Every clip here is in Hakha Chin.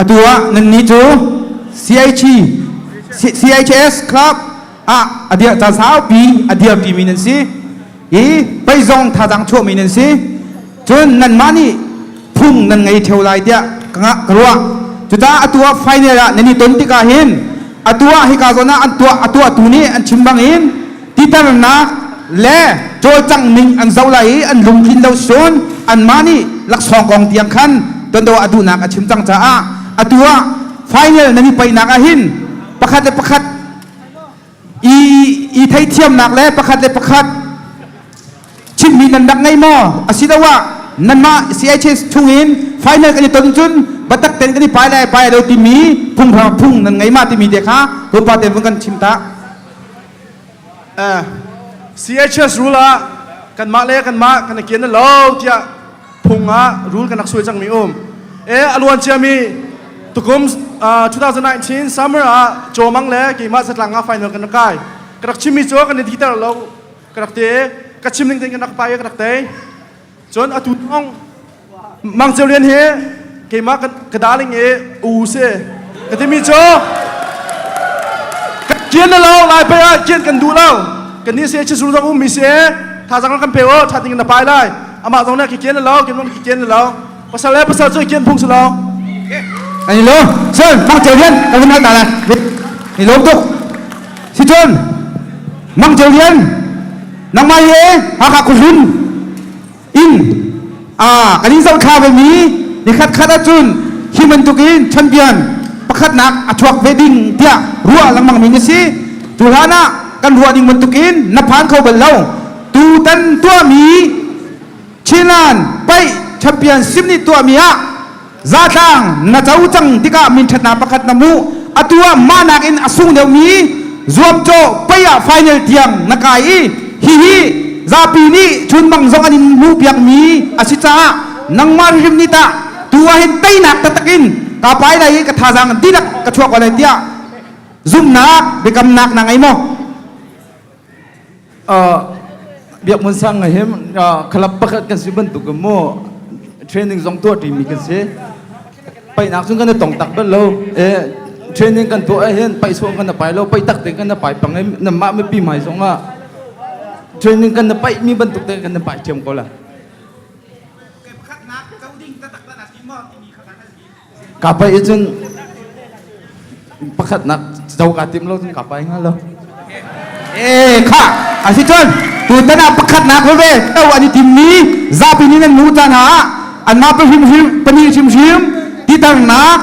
Atu ah nannih cu CHC CHS club ah a dir ca saupi a dirpi mi nan si i peizong thazang chuahmi nan si cun nanmah nih phung nan ngei theo lai tiah ka ngah ka ruah cucaah atu ah final ah nan i ton tikah hin atu ah hika zawn ah an tuah a tuahtu nih an chim bangin titernak le cawlcanghning an zoh lai i an lungtlin lo cun anmah nih laksawng kong tiang khan tondawa a duhnak a chim cang caah atu ah final nan i peinak ah hin pakhat le pakhat i i theithiamnak le pakhat le pakhat chimmi nan rak ngei maw asiloah nanmah CHS chungin final kan i ton cun batak ten kan i pai lai pai lo timi phung phung nan ngei ma timi te kha rupa ten vun kan chim ta CHS rule ah kanmah le kanmah kan i kian lo tiah phung ah rule kan rak suai cangmi um e a luan ciami tukum 2019 summer ah cawmang le keimah zatlang nga final kan rak kai ka rak chimmi cu kan i diter lo ka rak ti ka chim ning tin kan rak pai ka rak tei Cun atu thawng mangceu rian hi keimah ka darling i u si ka timi cu ka kian na lo lai pei ah kian kan duh lo kan ni se chizur zong um mi se thazang kan pe o that ding na pai lai amah zong nih ki kian na lo kim lam ki kian na lo pasal le pasal cu ikian phung si lo ani lo cun mang ceu lian kan mal ta lai mit ni lom tuk si cun mang ceu lian nang mai ye hakha kulun in a kan in zoh thla ve mi ni khat khat acun hi man tukin champion pakhatnak achuak ve ding tiah ruah langmang mi ni si tu hlan ah kan ruah ding man tukin na phan kho bal lo tu tan tua mi Chinland paih championship nih tuahmi ah zatlang na co cang tikah minṭhatnak pakhat na hmuh atu ah mah nakin a sung deuhmi zuamcaw pei ah final tiang na kai i hihi zapi nih chunmang zong an in hmuhpiakmi a si caah nangmah hrim nih tah tu ah hin teinak taktak in ka pai lai i ka thazaang dinak ka chuak ko lai tiah zumnak biakamnak na ngei maw Biak Mun Sang him club pakhat kan si bantuk mu training zong tuah ṭimi kan si painak cun kan i tong tak bel lo e training kan tuah ahhin pai suang kan pai lo pai tak te kan pai pang e nan mah mi pi mai zong ah training kan pai mi bantuk te kan pai thiam ko la ka pai in cun pakhatnak do ka tim lo cun ka pai hnga lo eh kha asi cun tutan ah pakhatnak ho ve to an i tim ni zapi ni nan nu tan ha an ma pe hrim hrim pani hrim hrim ti tarnak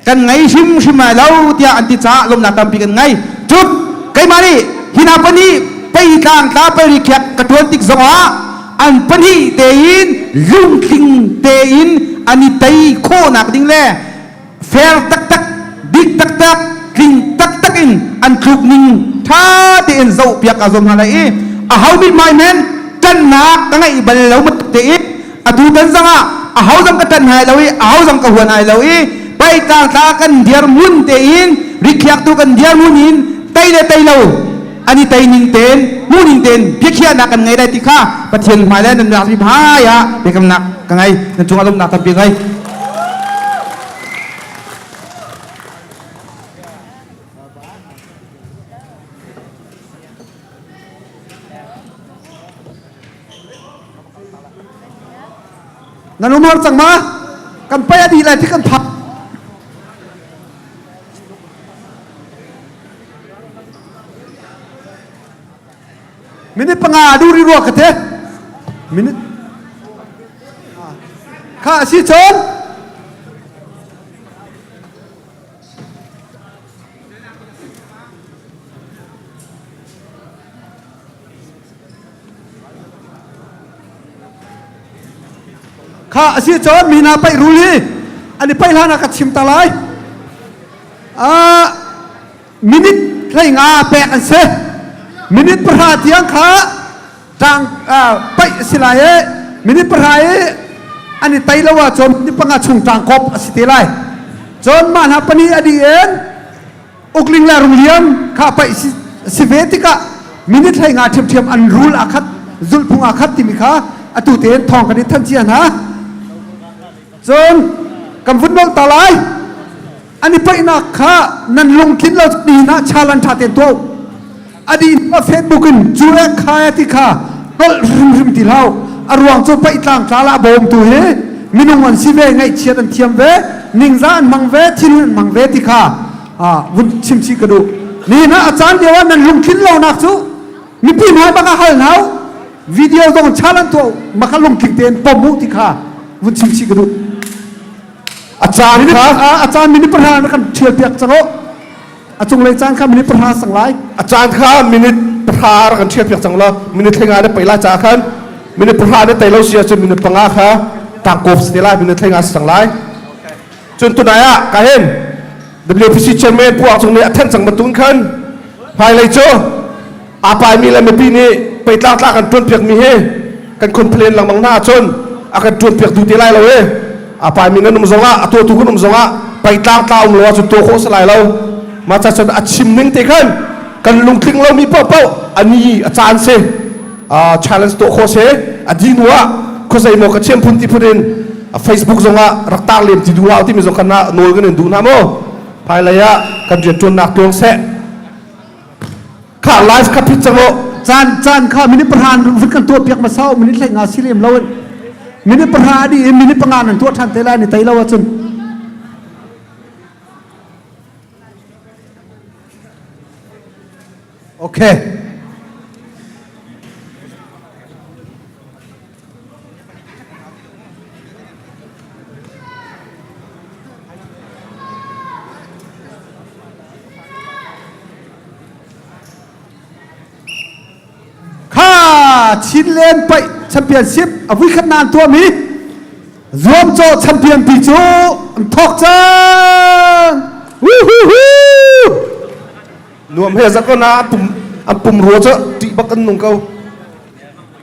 kan ngei hrim hrim lai lo tia an ti cha lomnak tampi kan ngei cut keimah nih hina pani pei tlang tla pei ri khek ka tuan tik zongah an pahnih tein lungtling tein an i tei khawhnak ding le fair taktak dik taktak tling taktak in an tluk ning tha tein zoh piak a zom hna lai i a hau mit mai men tannak ka ngeih bal lo mat te i atu tan zangah a hau zam ka tan hai lo i a hau zam ka huan hai lo i pai tlang tla kan diar mun tein rikhiak tu kan diar mun in tei le tei lo an i teining tein hmuhning tein biakhiahnak kan ngei lai ti kha Pathian hmai le nan rak hmai ah biakamnak ka ngei nan cungah lawmhnak tampi ngei nan umar cang ma kan pay adi lai ti kan phak Minute panga duh ri rua ka te. Minute kha a si chon. Kha a si cun mi hna paih rul hi an i paih hlan ah ka chim ta lai. Uh, minute hlei nga pek an si. Minute pahra tiang kha tang uh, paih a si lai i minute pahra i an i tai lo ah cun minute panga chung tang kop a si te lai. Cun ma hna pani a di in ukling le rungliam kha paih si, si ve tikah minute hlei nga ṭhiamṭhiam an rul a khat zulhphung a khat timi kha atu tein thawng kan i thanh cia hna cun kan vun nolh ta lai an i paihnak kha nan lungtlin lo ti hna chal an ṭha tein tuah adin pa facebook in cu rek khai ti kha tolh hrimhrim ti lau a ruang cu paih tlang tla la bawm tu hi minung an si ve ngaihchiat an thiam ve ningza an hmang ve thil an hmang ve ti kha vun chim chi ka duh ni na a caan lio ah nan lungthin lo nak cu mipi hna bak a hal nau video dong chalan to maka lungthin ten pom mu ti kha vun chim chi ka duh a caan kha a caan minute pahra na kan thial piak chang A cunglei caan kha minute pahra sang lai. A caan kha minute pahra rak kan chia piak cang lo. Minute thlenga na pei lai ca khan minute pahra na tei lo si ahcun minute panga kha tangkop si te lai minute thlenga sang lai. Cun tunai ah ka hen WPC chairman Pu Ang Cung nih a thanh cang batun khan hmailei cu aa paimi le mipi nih peitlangtla kan ṭuanpiakmi hi kan complain lengmang hna ahcun a kan ṭuanpiak du te lai lo i a paimi nan um zongah a tuatu kan um zongah peitlangtla um lo ahcun tuah khawh si lai lo mah ca cun a chim ning te khan kan lungtling lomi paohpaoh a ni a caan si challenge tuah khawh si a di nu ah khuasai maw ka chiam phun ti phun in facebook zongah rak tar lem ti du ha timi zong khan na nawl kan in duh na maw phailei ah kan rian ṭuannak tuang seh kha live kha phit chang law caan caan kha minute pahra vit kan tuah piak masa minute hlei nga si lem lo in minute pahra adi in minute panga nan tuah than te lai ni tai lo acun okay Chinland pei championship a vui khat nan tuam hi zuamcaw champion pi cu an thok cang nuam he zakon a pum a pum ro cu ti bak an nung ko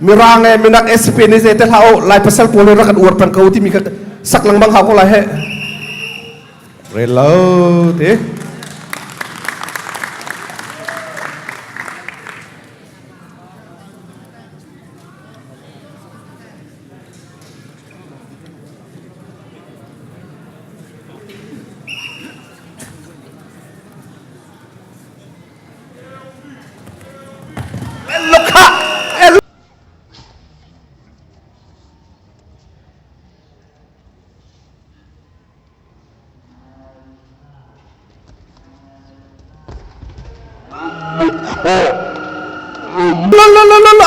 Mirang e minak SP ne ze te hla o lai pasal pawl he rakan uar pan ko timi ka sak lang bang hau ko lai he relo ti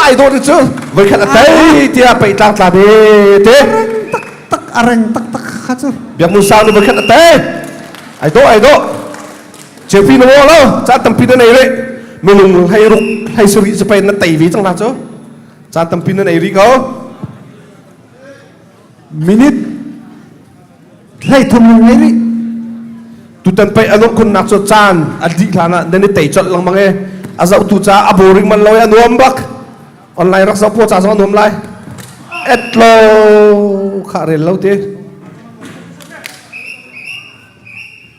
ai dawt cu voi khat a thei tiah pei tlang tla me te tak tak a reng tak tak kha cu biak mun sau nu voi khat a thei ai do ai do cepi na ngaw lo caan tampi na nei rih minung hlei ruk hlei suri japan na tei ve cang hna cu caan tampi na nei rih ko minute hlei thum na ngei rih tutan pei anung khunnak cu caan a dih hlan ah nan i tei colh lang mange a zoh tu ca a boring man lo a nuam bak online rak zoh po ca zong a nuam lai at lo khah rel lo te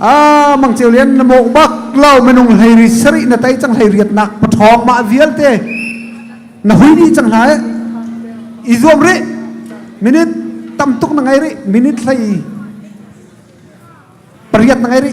a mang ceu lian na mawk bak lau minung hleiri sari na tai chang hleiriat nak pathong ma vialte na hui ni chang hlai i zuam ri minute tam tuk na ngai ri minute hlai pariat na ngai ri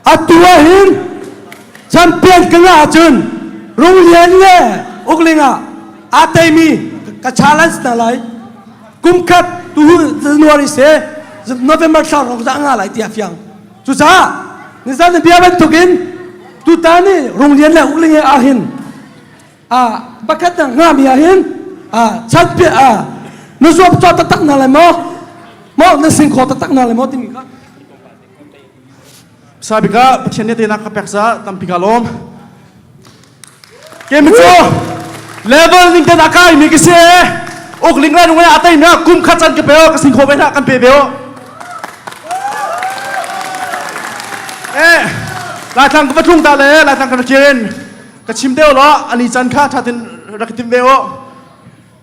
Atu ahhin champion ka ngah ahcun Rung Lian le Ukling ah aa teimi ka challenge hna lai. Kumkhat tu January se November thla rong za nga lai tiah fiang. Cucaah nizan ni bia bantukin tutan ni Rung Lian le Ukling he ahhin ah pakhat na ngami ahhin ah champion ah na zuap cawt taktak hna lai maw? Maw na sing kho taktak hna lai maw timi kha Sabik ah Pathian nih teinak kha pek sa tampi ka lawm. Ke mi cu level ning ten a kai mi ka si uk ling ran we a tei mi kum khat san ka pe ka sin kho ve na kan pe ve o eh lai thang ka tlung ta le lai thang ka kirin ka chim deu lo ani chan kha thatin rak tim ve o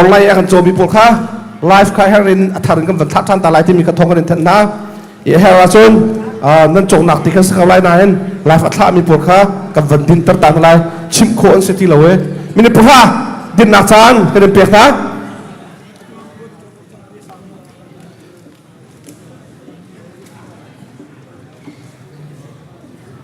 online a kan cawmi pawl kha live kha her in a thar in kan van thlah ṭhan ta lai timi ka thawng kan in thanh hna i a her ahcun nan cawknak ti kan si ko lai nain live a thlahmi pawl kha kan van dinter ta hna lai chimh khawh an si ti lo e minute pahra dinnak caan kan in pek hna